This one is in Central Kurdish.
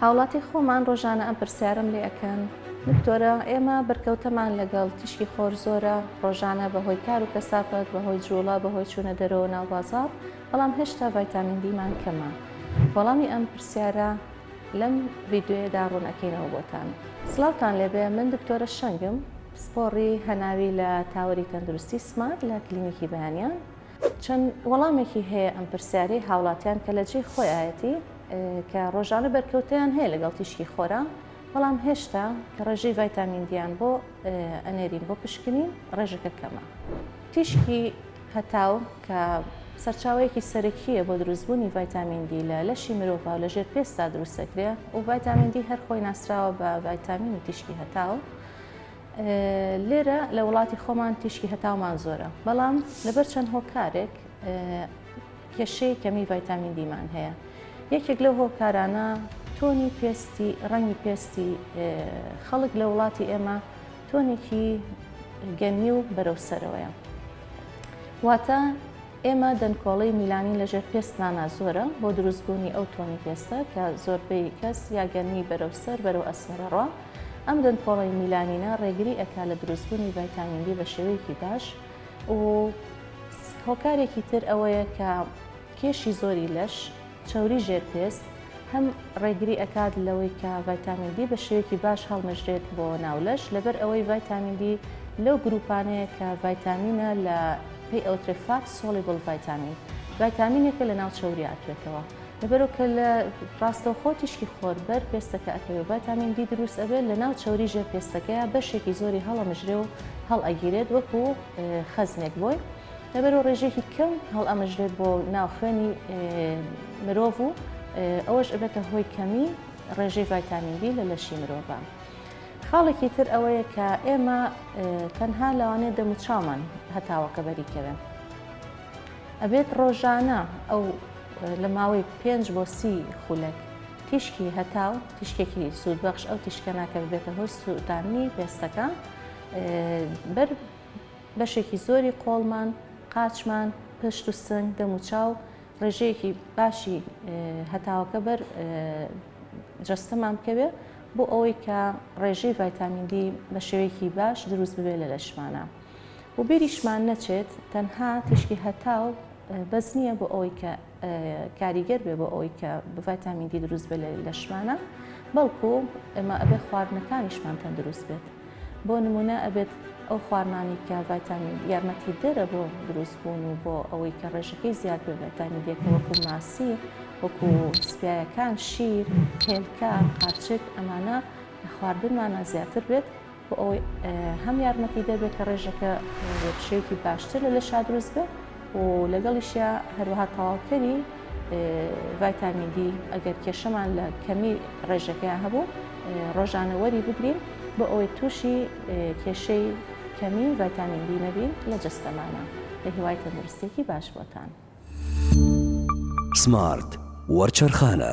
هاوڵاتی خۆمان ڕۆژانە ئەم پرسیارەم لێ ئەکەن دکتۆرە ئێمە بەرکەوتەمان لەگەڵ تیشکی خۆر زۆرە ڕۆژانە بەهۆی کار و کەسافەت بەهۆی جوڵە بەهۆی چوونە دەرەوە ناو بازاڕ بەڵام هێشتا ڤایتامین دیمان کەمە وەڵامی ئەم پرسیارە لەم ڤیدیۆیەدا ڕوون ئەکەینەوە بۆتان. سڵاوتان لێبێ من دکتۆرە شەنگم پسپۆڕی هەناوی لە تاوەری تەندروستی سمارت لە کلینیکی بەیانیان. چەند وەڵامێکی هەیە ئەم پرسیارەی هاوڵاتیان کە لە جێی خۆیایەتی کە ڕۆژانە بەرکەوتەیان هەیە لەگەڵ تیشکی خۆرا، بەڵام هێشتا کە ڕێژەی ڤایتامین دییان بۆ ئەنێرین بۆ پشکنین ڕێژەکە کەمە. تیشکی هەتاو کە سەرچاوەیەکی سەرەکییە بۆ دروستبوونی ڤایتامین دی لە لەشی مرۆڤا و لە ژێر پێستا دروست دەکرێت و ڤایتامین دی هەر خۆی ناسراوە بە ڤایتامینی تیشکی هەتاو. لێرە لە وڵاتی خۆمان تیشکی هەتاومان زۆرە بەڵام لەبەر چەند هۆکارێک کێشەی کەمی ڤایتامین دیمان هەیە یەکێک لەو هۆکارانە تۆنی پێستی ڕەنگی پێستی خەڵک لە وڵاتی ئێمە تۆنێکی گەنی و بەرەو سەرەوەیە واتە ئێمە دەنکۆڵی میلانی لەژێر پێستمانە زۆرە بۆ دروستبوونی ئەو تۆنی پێستە کە زۆربەی کەس یاگەنی بەرەو سەر بەرەو ئەسمەرەڕە ئەم دەنکۆڵەی میلانینە ڕێگری ئەکا لە دروستبوونی ڤایتامین دی بە شێوەیەکی باش و هۆکارێکی تر ئەوەیە کە کێشی زۆری لەش، چەوری ژێر پێست، هەم ڕێگری ئەکات لەوەی کە ڤایتامین دی بە شێوەیەکی باش هەڵمژرێت بۆ ناو لەش لەبەر ئەوەی ڤایتامین دی لەو گروپانەیە کە ڤایتامینە لە پێی ئەوترێ فات سۆلیبل ڤایتامین ڤایتامینێکە لە ناو چەوری ئاتوێتەوە لەبەرو کە لە ڕاستەوخۆ تیشکی خۆر بەر پێستەکە ئەکەوێ و ڤایتامین دی دروست ئەبێت لە ناو چەوری ژێر پێستەکەیا بەشێکی زۆری هەڵەمژرێ و هەڵئەگیرێت وەکو خەزنێک بۆی لەبەرو ڕێژەیەکی کەم هەڵئەمژرێت بۆ ناو خوێنی مرۆڤ و ئەوەش ئەبێتە هۆی کەمی ڕێژەی ڤایتامین دی لە لەشی مرۆڤا. خاڵێکی تر ئەوەیە کە ئێمە تەنها لەوانەیە دەموچاومان هەتاوەکە بەری کەوێ. ئەبێت ڕۆژانە ئەو لە ماوەی پێنج بۆ سی خولەک تیشکی هەتاو، تیشکێکی سوودبەخش، ئەو تیشکانە کە ببێتە هۆی سووتاندنی پێستەکە، بەر بەشێکی زۆری قۆڵمان، قاچمان، پشت و سنگ، دەم و چاو، ڕێژەیەکی باشی هەتاوەکە بەر جەستەمان بکەوێت بۆ ئەوەی کە ڕێژەی ڤایتامین دی بە شێوەیەکی باش دروست ببێت لە لەشمانە. و بیریشمان نەچێت تەنها تیشکی هەتاو بەس نییە بۆ ئەوەی کە کاریگەر بێ بۆ ئەوەی کە ڤایتامین دی دروست بێ لەشمانە بەڵکو ئەمە ئەبێ خواردنەکانیشمان تەندروست بێت بۆ نمونە ئەبێت ئەو خواردنانی کە ڤایتامین یارمەتی دەرە بۆ دروست بوون و بۆ ئەوەی کە ڕێژەکەی زیاد بێ ڤایتامین دیەکە وەکو ماسی وەکو سپایەکان شیر هێلکە قارچک ئەمانە خواردنمانە زیاتر بێت بۆ ئەوەی هەم یارمەتیدەر بێت کە ڕێژەکە بە شێوکی باشتر لە لەشا دروست بێت و لەگەڵیشە هەروەها تەواوکەری ڤایتامین دی ئەگەر کێشەمان لە کەمی ڕێژەکەیان هەبوو ڕۆژانە وەری بگرین بۆ ئەوەی تووشی کێشەی کەمی ڤایتامین دی نەبین لە جستەمانە لە هیوای تەندروستێکی باش بۆتان سمارت وەرچەرخانە.